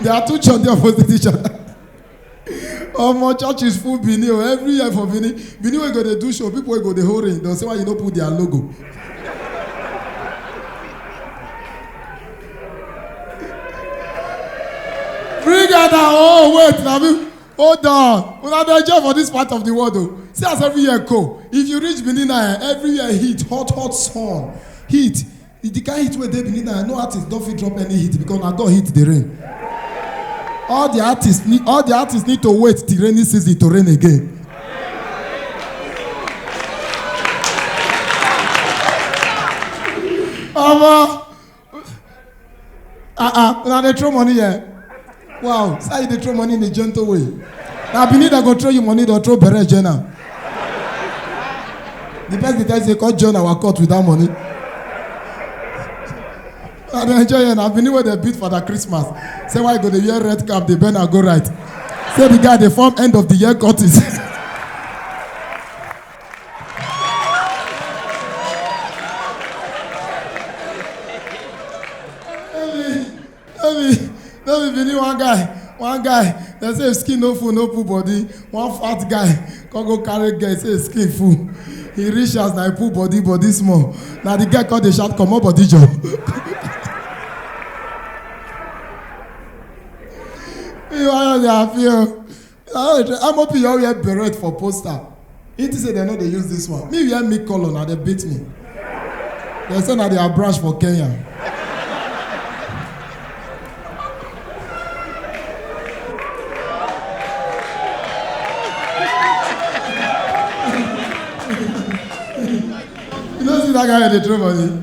there are two church there opposite each other omo church is full benin o every year for benin benin wey go dey do show people wey go dey hold ring don say why you no put their logo bring out our own wait na me hold on una dey enjoy for this part of the world o see as every year go if you reach benin na eh, every year heat hot hot sun heat If the kind heat wey dey beneath now, no artist don fit drop any heat because na God heat dey rain. All the artists need all the artists need to wait till rainy season to rain again. Omo, ah ah una dey throw money here wow sir you dey throw money in a gentle way na benin dem go throw you money don throw bere join am the person dey tell you say come join our court without money i dey enjoy here na benin wey dey beat father christmas say why you go dey wear red cap dey bend and go right say the guy dey form end of the year curtis. no be no be bini one guy one guy dem say if skin no full no pull body one fat guy come go carry girl say his skin full he reach house na he pull body body small na the girl come dey shout comot body joor. you wan dey happy o. ah amopi you all wear beret for poster he think say dem no dey use this one me wear me colour na dem beat me dem say na their branch for kenya you no see that guy wey dey throw money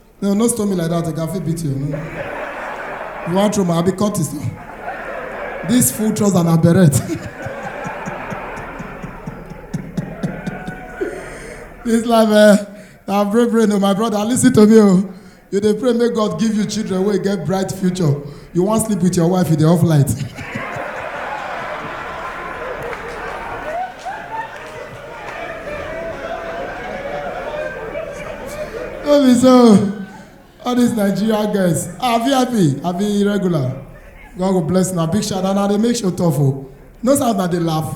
No, no stone me like that. I can fit beat you. No. You want throw my abi cut this. This full trouser and a beret. this life, eh? Na pray pray no, my brother. Listen to me, oh. You dey pray make God give you children wey get bright future. you wan sleep with your wife you dey off light no be so all these nigeria girls ah vip abi regular god go bless una big shout out na dey make show tough o no sound na dey laugh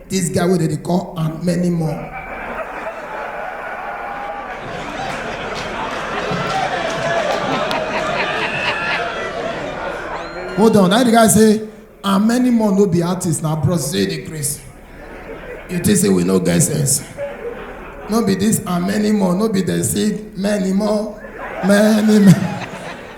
This guy wey dem dey call and many more. Hold on, that the guy say and many more no be artist na bros say dey craze. You think say we no get sense? No be this and many more, no be dem say many more, many more.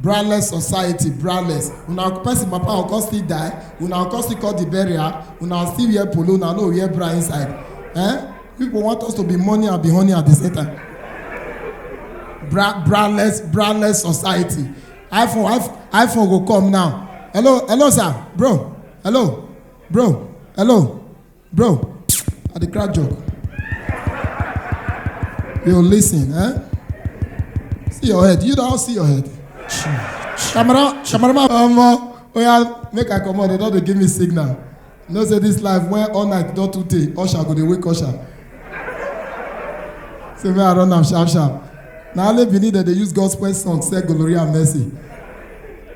brandless society brandless una person papa go come still die una go come still call the burial una still wear polo una no wear bra inside eh people want us to be money and be honey at the same time bra brandless brandless society iphone iphone iphone go come now hello hello sir bro hello bro hello Bro, I dey crack joke. Yo, listen, eh? See your head. You don't see your head. Camera, cameraman, omo, oya, make I comot. They don dey give me signal. You know say this life when all night don too tey, usher go dey wake usher. Say make I run am sharp sharp. Na only Benin dem dey use gospel song sell glory and mercy.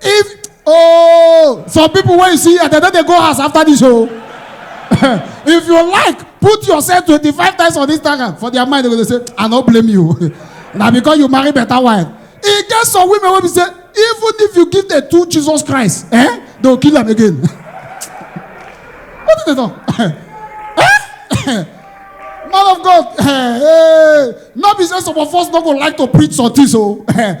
if oh some people wey you see here dem no dey go house after this o oh. if you like put yourself twenty-five times on instagram for their mind they go dey say i no blame you na because you marry better wife e get some women wey be say even if you give them two jesus christ eh they go kill am again what do they talk eh man of god eh, eh, no be say some of us no go like to preach some things o oh. eh,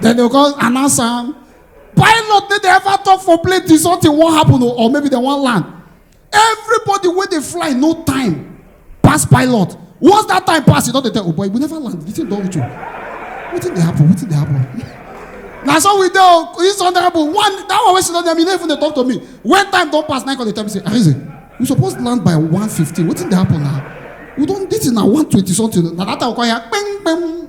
Then they go announce am. Pilot no dey ever talk for plane till something wan happen o or maybe dem wan land. Everybody wey dey fly no time pass pilot. Once that time pass, you don dey tell, oh boy, we never land. The thing don reach o. Wetin dey happen? Wetin dey happen? na so we dey o this one dey happen one that one wey she don tell me no even dey talk to me when time don pass na come dey tell me say arize we suppose land by one fifteen wetin dey happen na we don this thing na one twenty something na that time we come hear kpeng kpeng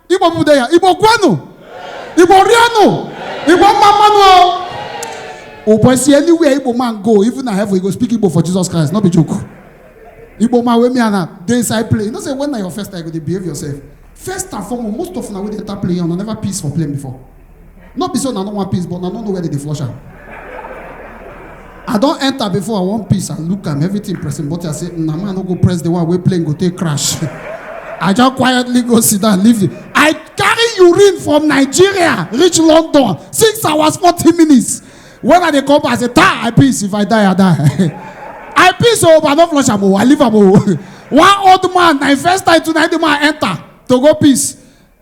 igbo mụde ya igbo kwenu igbo rienu igbo mma mmanụ o ụbọchị anywhere igbo man go even na heaven you go speak igbo for jesus christ no be joke igbo man wey me and am dey inside play you know say when na your first time you go dey behave yourself first and foremost most of una wey dey enter play yan una never piss for plane before no be say una no wan piss but una no know where dem dey flush am i don enter before i wan piss and look am everything pressing but i say na man no go press the one wey plane go take crash i just quietly go sit down leave the i carry urine from nigeria reach london six hours forty minutes when i dey come back i say ta i piss if i die i die i piss o but i no flush am o i leave am o one old man na him first time tonight the man enter to go piss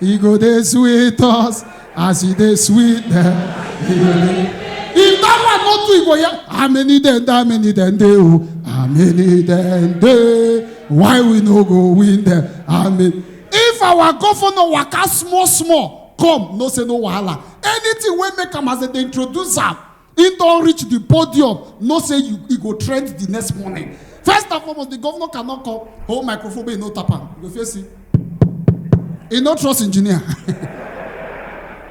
E go dey sweet us as e dey sweet dem. E go dey- If that one no do, e go hear, how many dem dey, how many dem dey o, how many dem dey, why we no go win dem, how many. If our governor waka small small come, no say no wahala. Anything wey make am as dem dey introduce am, He don't reach the podium, no say you, he go trend the next morning. First and foremost, the governor cannot come. Oh, microphone, he no tap am. You go first see. He no trust engineer.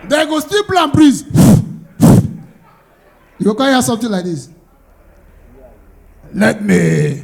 they go still blow and breeze. you go come hear something like this. Let me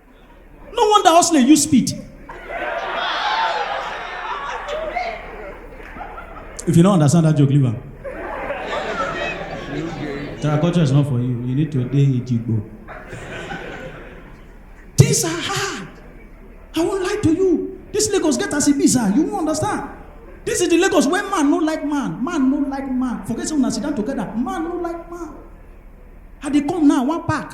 No wonder hustler use speed. If you don't understand that joke, leave am. Terraculture is not for you. You need to dey Ejigbo. Things are hard. I won't lie to you. This Lagos get as e be, sir. You won't understand. This is the Lagos where man no like man. Man no like man. Forget say una sit down together. Man no like man. I dey come now, one pack.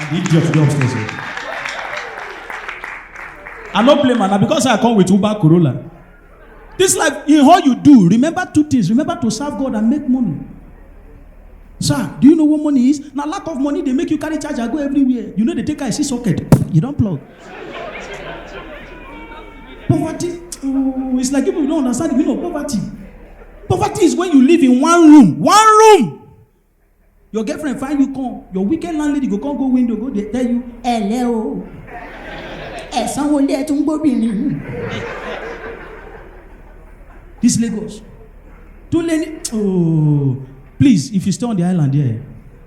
And the idiot dey upstairs. o. I no blame am na because I come with Uber Corolla. This life, in all you do, remember two things. Remember to serve God and make money. Sir, do you know what money is? Na lack of money dey make you carry charger go everywhere. You no dey take eye see socket, you don plug. Poverty, oh, it's like people don't understand the meaning of poverty. Poverty is when you live in one room, one room. Your girlfriend find you come, your wicked landlady go come go window go dey tell you, ẹ̀lẹ́ o, ẹ̀sán wo lé ẹ̀ tún gbóbìnrin. This Lagos. Too many, oh, please, if you stay on the island there,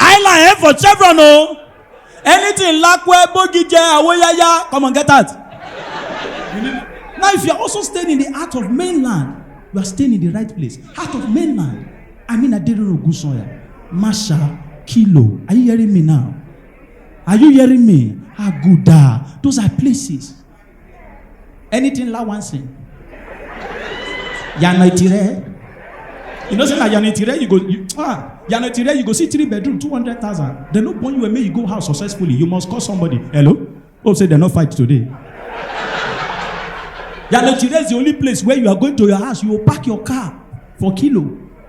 island head for chevron o anything lakwe bogije awoyaya come on get out now if you are also staying in the heart of mainland you are staying in the right place heart of mainland i mean aderoro ogunsanya masha kilo are you hearing me now are you hearing me aguda those are places anything la wan sing yana itire you know say na yana itire you go you, ah yana itire you go see three bedroom two hundred thousand dem no born you and make you go house successfully you must call somebody hello hope say dem no fight today yana itire is the only place where you are going to your house you go park your car for kilo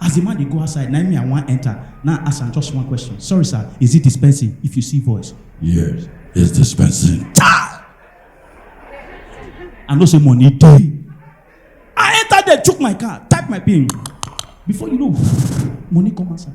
As the man dey go outside, na me I wan enter. Now I ask am just one question. Sorry sir, is it dispensing? If you see voice. Yes, it's dispensing. Chai! I know say money dey. I enter there, chook my car, type my pin. Before you know, money come outside.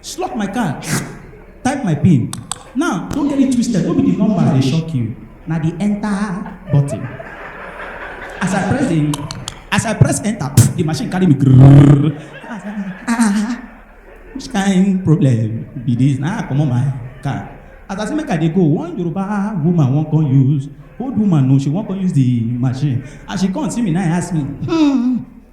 Slot my card, type my pin. Now, don't get it twisted, no be the number dey shock you, na the enter button. As I press the, as I press enter, pff, the machine carry me grrrr. I say, ah, ah, which kind problem be this? Na I comot my card. As I say make I dey go, one Yoruba woman wan come use, old woman no, she wan come use the machine. As she come see me, na I ask me, hmm,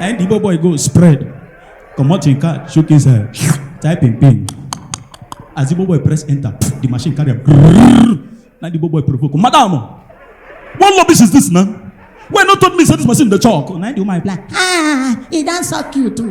na the boy boy go spread comot him card shook inside type him pin as the boy boy press enter the machine carry am grrrr na the boy boy provoke madam what rubbish is this na wey no told me say this machine dey chalk na the woman reply ah e don suck you too.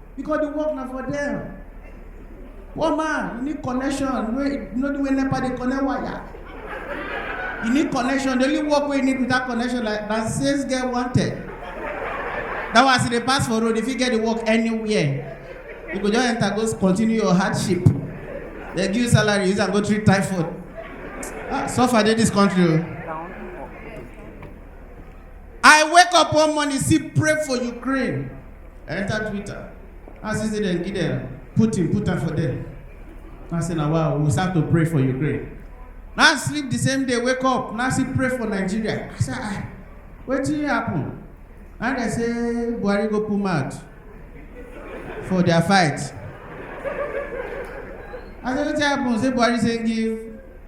because the work na for them poor man you need connection wey you know the way nepa dey connect wire you need connection the only work wey you need without connection like na sales get wanted that one as you dey pass for road you fit get the work anywhere you go just enter go continue your hardship they give you salary use am go treat typhoid ah suffer dey this country o. Oh. I wake up one morning, see, pray for Ukraine. enter twitter i see say dem give dem putin put am for there i say na wow we start to pray for ukraine na sleep the same day wake up na still pray for nigeria i say ah wetin happen na dem say buhari go put mouth for their fight i say wetin happen say buhari say give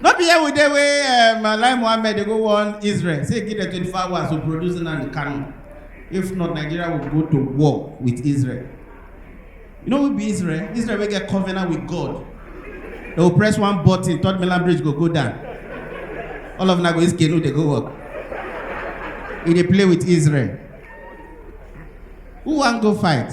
no be here we dey wey um, alai mohammed dey go warn israel say give dem twenty four hours to produce nnamdi kanu if not nigeria will go to war with israel you know who be israel israel wey get covenant with god they go press one button third mainland bridge go go down all of una go use canoe dey go work e dey play with israel who wan go fight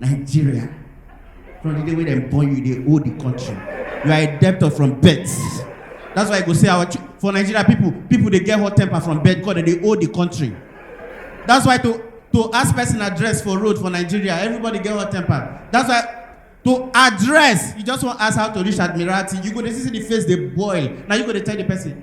Nigeria. From the day when dem born you, they owe the country. You are a debtor from birth. That's why I go say our for Nigeria people, people they get hot temper from birth because they owe the country. That's why to to ask person address for road for Nigeria, everybody get hot temper. That's why to address you just want ask how to reach admiralty you go dey see the face dey boil na you go dey tell the person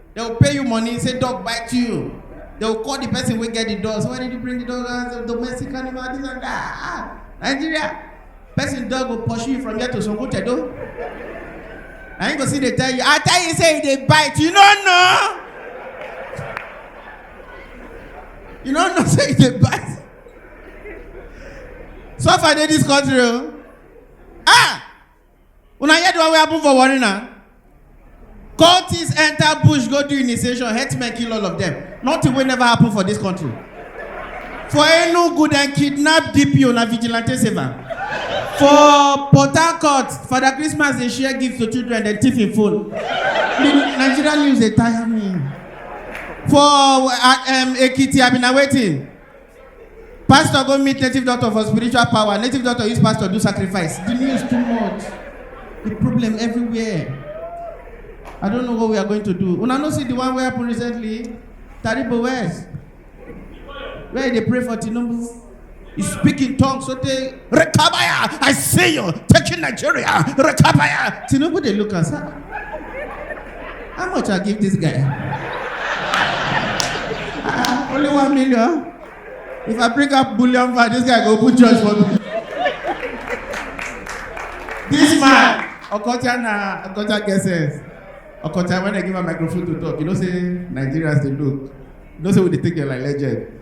They will pay you money, say dog bite you. They will call the person wey get the dog. So why did you bring the dog as a domestic animal? This and that. Ah, Nigeria. Person dog will pursue you from here to Sokotedo. Na him go see dey tell you, I tell you say e dey bite, you no know. You no know say e dey bite. Suffer dey this country o. Ah! una hear the one wey happen for warri na cultists enter bush go do initiation herdsmen kill all of them nothing wey never happen for this country for enugu dem kidnap dpo na vigilante save am for port harcourt father christmas dey share gift to children dem thief im phone the nigerian news dey tire me for uh, um, ekiti abi na wetin Pastor go meet native doctor for spiritual power. Native doctor use pastor do sacrifice. The news too much. The problem everywhere. I don't know what we are going to do. Una no see the one wey happen recently? Taribo West. Where they pray for Tinubu. He speak in tongues so they Rekabaya, I see you taking Nigeria. Rekabaya. Tinubu, they look and say, "Ah, how much I give this guy? Ah, only one million. If I bring up bullion for this guy, go put judge for me. this man, Okocha na Okocha get sense. Okocha, when I give a microphone to talk, you know say Nigerians they look. You know say we dey take them like legend.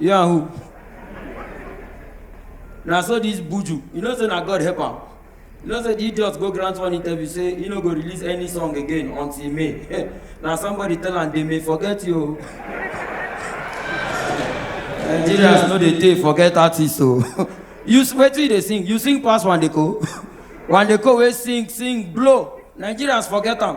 You and who? Na so this buju, you know say na God help am. You know say the idiot go grant one interview say he no go release any song again until May. na somebody tell am they may forget you. o." Nigerians no dey take forget artists o. you s- wetin you dey sing? You sing pass Wandeko. Wandeko wey sing sing blow. Nigerians forget am.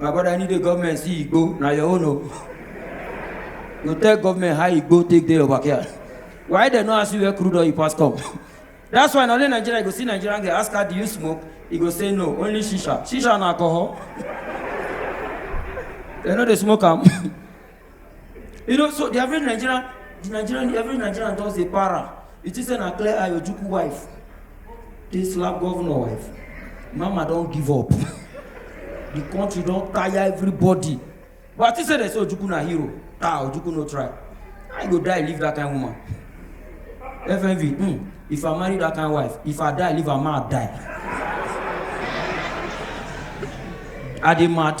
my brother any day government see igbo na your own o you tell government how igbo take dey your backyard why dem no ask you where crude oil pass come that's why na only nigeria you go see nigerian girl ask her do you smoke e go say no only shisha shisha na alcohol dem no dey smoke am you know so the average nigerian the nigerian the average nigerian just dey para you think say na clear eye ojukwu wife dey slap governor wife mama don give up the country don tire everybody but i think say dem say ojukwu na hero ah ojukwu no try i go die leave that kind woman fmv hmm if i marry that kind wife if i die leave am ma die i dey mad.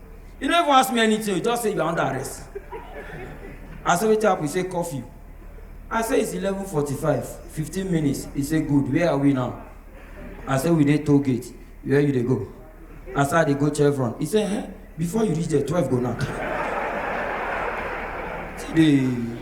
You no even ask me anything, you just say you are under arrest. I say wetin happen? He say curfew. I say it's 11:45, 15 minutes. He say good, where are we now? I say we dey toll gate, where you dey go? I say I dey go Chevron. He say eh, before you reach there, 12 go now. See the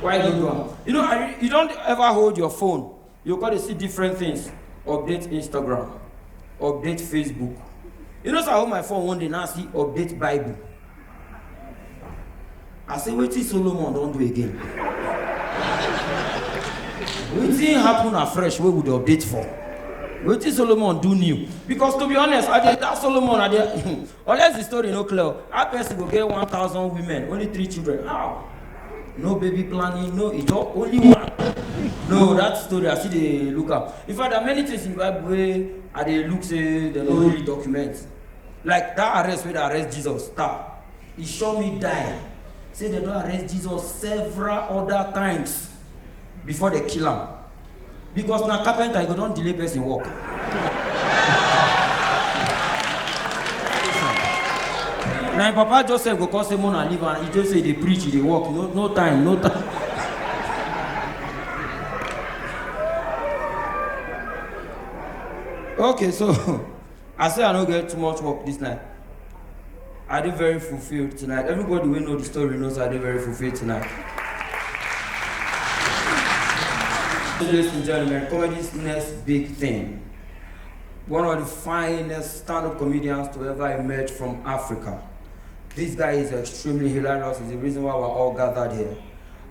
why you do am you know i you don ever hold your phone you go dey see different things update instagram update facebook you know say i hold my phone one day now see update bible i say wetin solomon don do again wetin happen afresh wey we dey update for wetin solomon do new because to be honest i dey tell solomon i dey Unless the story no clear, how person go get 1,000 women, only three children? How? No baby planning, no ijo, only one. No, that story I see dey look am. In fact, there are many things in Bible wey I dey look say dem no really document. Like that arrest wey dey arrest Jesus, star, e sure me die. Say dem don arrest Jesus several other times before dem kill am. because na carpenter you go don delay person work. na im papa joseph go come say mona leave am he just say dey preach he dey work no no time no time. okay so I say I no get too much work this night. I dey very fulfilled tonight. Everybody wey know the story knows I dey very fulfilled tonight. Ladies and gentlemen, comedy's next big thing. One of the finest stand-up comedians to ever emerge from Africa. This guy is extremely hilarious. It's the reason why we're all gathered here.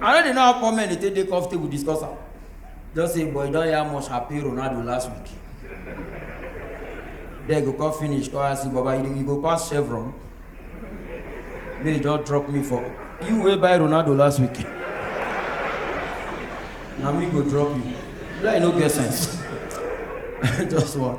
I no dey know how poor men dey take dey comfortable discuss am. Just say boy don hear much happy Ronaldo last week. Then go come finish come ask you baba you, you go pass chevron. May you just drop me for you wey buy Ronaldo last week. Na me go drop you. Like no get sense. Just one.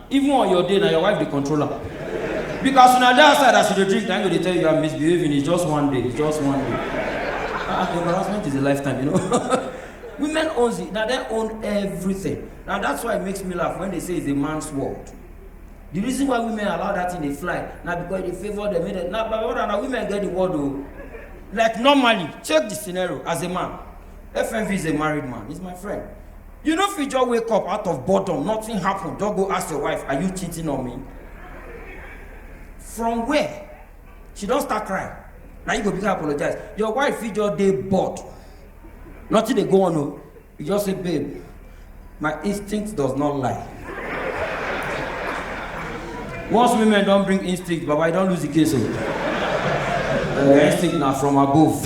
Even on your day, na your wife dey control am. Biko as una dey outside as you dey drink, na im go dey tell you you are misbehaving, it's just one day, it's just one day. Ah, the embarrassment is a lifetime, you know. Women owns it, na dem own everything. Na that's why it makes me laugh when they say it's a man's world. The reason why women allow that thing dey fly na because e dey favour dem, make dem, na my brother, na women get the world o. Like normally, check the scenario as a man. FMV is a married man, he's my friend. You no fit just wake up out of boredom, nothing happen, just go ask your wife, are you cheating on me? From where? She don start crying. Na you go begin apologize. Your wife fit just dey bored. Nothing dey go on o. You just say, babe, my instinct does not lie. Once women don bring instinct, baba, you don lose the case o. Uh, instinct na from above.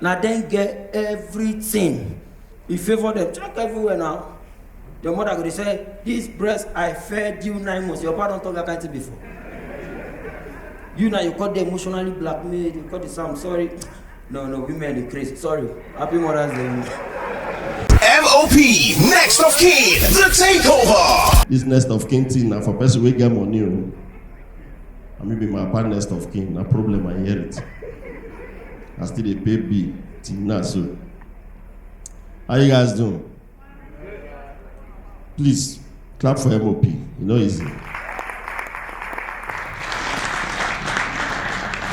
na dem get everything e favour dem check everywhere now your mother go dey say this breast i fed you nine months your papa don talk that kind thing before you na you come dey emotionally blackmailed you come dey say i'm sorry no no women dey craze sorry happy mothers day. MOP, next of kin, the takeover. This next of kin thing na for person wey get money o. I mean, be my papa next of kin, na problem I inherit. I still dey pay bill till now so. How you guys doing? Please clap for MOP. You know easy.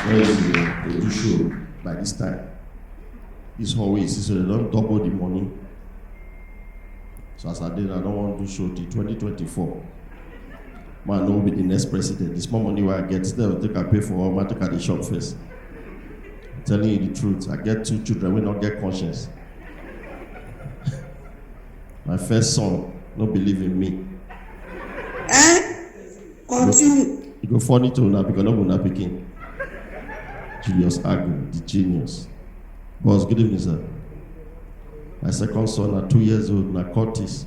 No easy. They do show by this time. This hallway is so they don't double the money. So as I did, I don't want to show till 2024. ma no be the next president the small money wey i get still i go take am pay for all ma take am dey shop first i'm telling you the truth i get two children wey no get conscience my first son no believe in me Eh? Continue. e go funny to una because no be una pikin julius agu the genius boss good evening sir my second son na two years old na curtis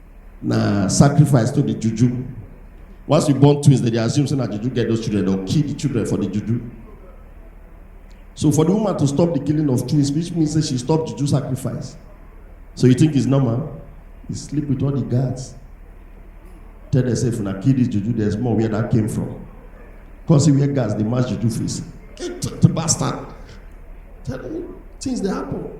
na sacrifice to the juju once you born twins dem dey assume say na juju get those children dem kill the children for the juju so for the woman to stop the killing of twins which means say she stop juju sacrifice so you think it's normal you sleep with all the guards tell them say if una kill this juju there's more where that came from come see where guards dey match juju face get the bastard tell them things dey happen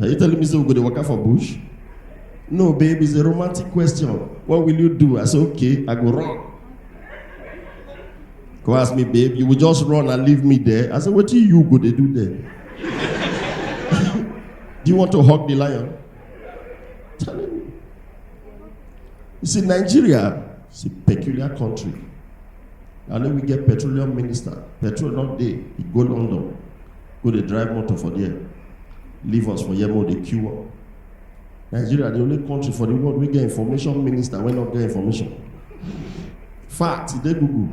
Are you telling me say we go dey waka for bush? No, babe, it's a romantic question. What will you do? I say, okay, I go run. Go ask me, babe, you will just run and leave me there. I say, what do you go dey do there? do you want to hug the lion? Telling you. You see, Nigeria is a peculiar country. And then we get petroleum minister, petrol not there, he go London. go dey drive motor for there leave us for here make we dey queue up nigeria the only country for the world wey get information minister wey no get information fact e dey google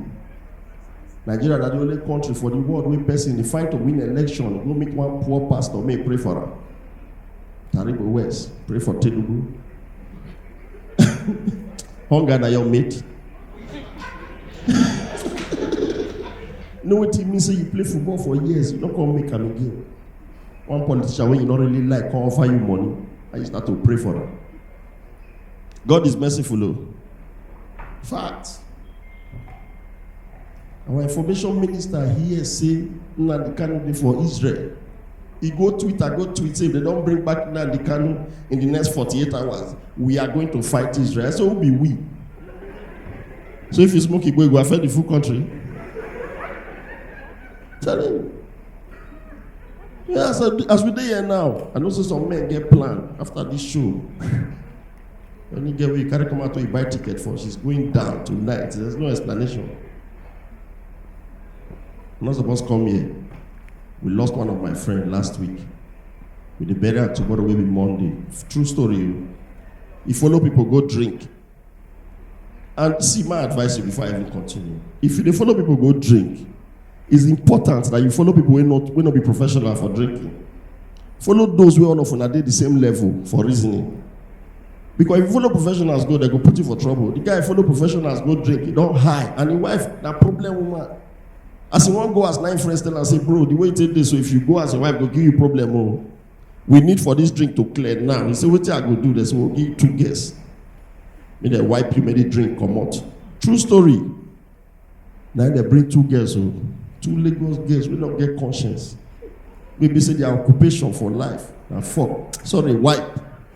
nigeria na the only country for the world wey person dey fight to win election go meet one poor pastor may pray for am taribo west pray for tinubu hunger na your mate know wetin mean say you play football for years you no come make am again one politician wey you no really like come offer you money and you start to pray for am god is merciful o oh. fact our information minister hear say nnamdi kanu dey for israel He go Twitter, go tweet say if they don't bring back Nnamdi Kanu in the next 48 hours, we are going to fight Israel. So who be we? So if you smoke Igbo, it will affect the full country. Tell him. Yeah, as, I, as we dey here now, I know say some men get plan after this show. When you get where you carry come out to you buy ticket for, she's going down tonight. There's no explanation. I'm not supposed to come here. We lost one of my friend last week. We dey bury am tomorrow wey be Monday. True story o. E follow people go drink. And see my advice you before I even continue. If you dey follow people go drink, it's important that you follow people wey not wey not be professional for drinking. Follow those wey all of una dey the same level for reasoning. Because if you follow professionals go, they go put you for trouble. The guy follow professionals go drink, he don high, and him wife na problem woman. as e wan go as nine friends tell am say bro the way you take dey so if you go as your wife go give you problem o oh. we need for this drink to clear now he say wetin i go do there so we we'll give two girls make dem wipe you make the drink comot true story na dem bring two girls o oh. two lagos girls wey no get conscience wey be say their occupation for life na fuck sorry wipe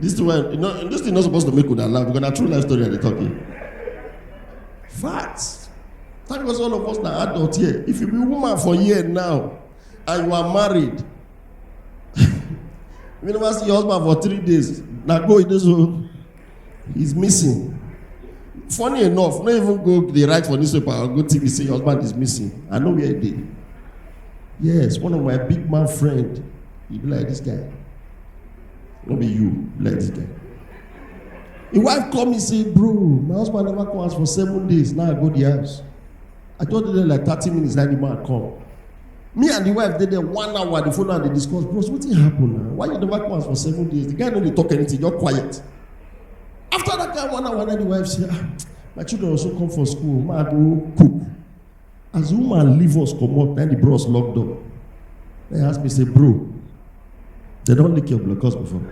This thing, wey- you know, this thing not supposed to make una laugh because na true life story I dey talk here. Fact. Thank God all of us na adult here. If you be woman for here now and you are married, you never see your husband for three days, na go e dey so. He's missing. Funny enough, not even go the right for newspaper or go TV say your husband is missing. I know where he did. Yes, one of my big man friend. He be like this guy. Not be you, like this guy. The wife call me say, bro, my husband never come house for seven days. Now I go the house. I told them like thirty minutes that the man come. Me and the wife dey there one hour, the phone and dey discuss, bros, wetin happen now? Why you never come for seven days? The guy no dey talk anything, just quiet. After that guy one hour, then the wife say, ah, my children also come for school, ma go cook. As the woman leave us comot, then the bros lock door. Then he ask me say, bro, they don lick your blockers before.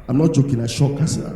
I'm not joking, I shock, I say, ah,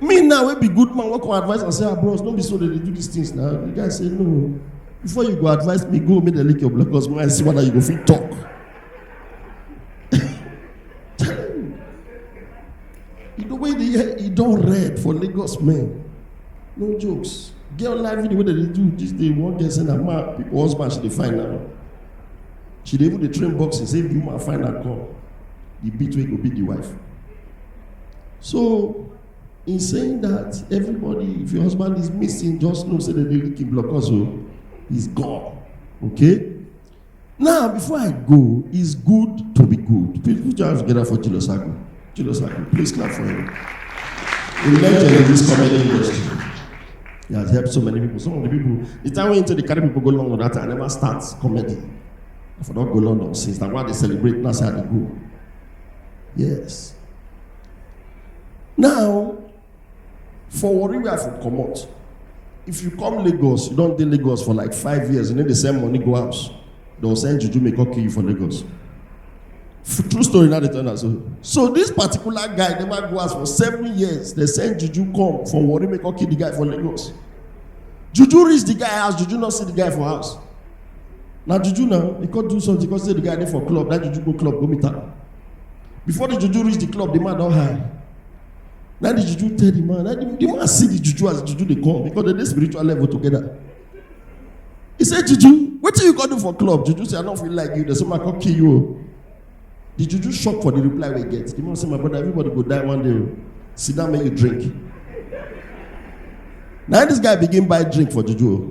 me now wey be good man wey come advise am say ah bros no be so dem dey do these things na the guy say no before you go advise me go make dem lick your blood cause when i see whether you go fit talk you know wey dey hear e don red for lagos men no jokes girl life video wey dem dey do this day one girl say na man people husband she dey find now she dey even dey train boxing say if the woman find am come the beat wey go beat the wife So, in saying that, everybody, if your husband is missing, just know say they dey lick him block us o. He's gone. Okay? Now, before I go, it's good to be good. Please put your hands together for Julius Agu. Julius Agu, please clap for him. A legend in this comedy industry. He has helped so many people. Some of the people, the time when into the carry people go London that time, I never start comedy. I for not go London since that why they celebrate now say I dey go. Yes. Now, for Warri where I for comot, if you come Lagos, you don dey Lagos for like five years, you no dey send money go house, they will send juju make come kill you for Lagos. F- True story now dey tell una so. So this particular guy never go house for seven years, they send juju come for Warri make come kill the guy for Lagos. Juju reach the guy house, juju no see the guy for house. na juju now he come do something come say the guy dey for club that juju go club go meet am before the juju reach the club the man don high na the juju tell the man na the, the man see the juju as the juju dey come because they dey spiritual level together he say juju wetin you go do for club juju say i no fit like you dey so ma come kill you o the juju shock for the reply wey get the man say my brother everybody go die one day o sit down make you drink na this guy begin buy drink for juju o